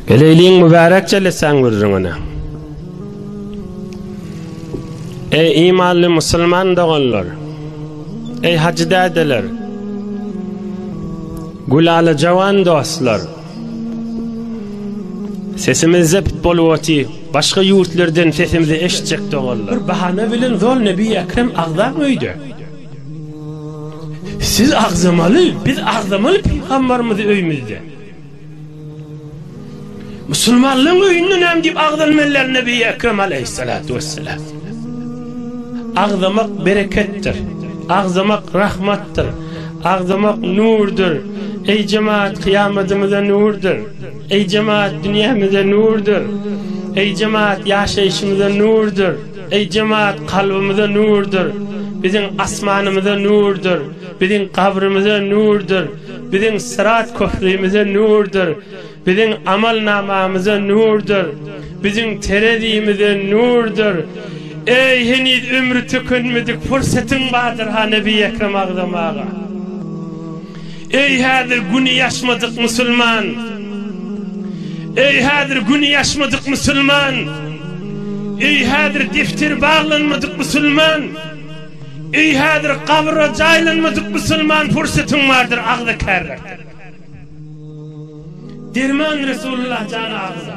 Geleýliň mübärek jellesäň gürrüňine. Eý imanly musulman doganlar. Eý hajy dädeler. Gülala jawan dostlar. Sesimiz zept bolup oty. Başga ýurtlardan sesimizi eşitjek doganlar. Bir bahana bilen zol Nebi Ekrem agzap öýde. Siz agzamaly, biz agzamaly pygamberimizi öýmüzde. Musulmanlaryň öýünde näme diýip agzalmalylar Nebi Ekrem aleýhissalatu wessalam. Agzamak bereketdir. Agzamak rahmatdyr. Agzamak nurdyr. Eý jemaat kyýamadymyza nurdyr. Eý jemaat dünýämize nurdyr. Eý jemaat ýaşaýşymyza nurdyr. Eý jemaat kalbymyza nurdyr. Biziň asmanymyza nurdyr. Biziň gabrymyza nurdyr. Biziň syrat köprümize nurdyr, biziň amalnamamyza nurdyr, biziň terezimize nurdyr. Eý, heniz ömri tükenmedik pursatyň bardyr-ha Nebi Ekrem agzam aga. Eý, häzir güni ýaşmadyk musulman! Eý, häzir güni ýaşmadyk musulman! Eý, häzir defteri baglanmadyk musulman! Eý häzir gabra jaýlanmadyk musulman pursatyň bardyr agza kärler. Derman Resulullah jana agza.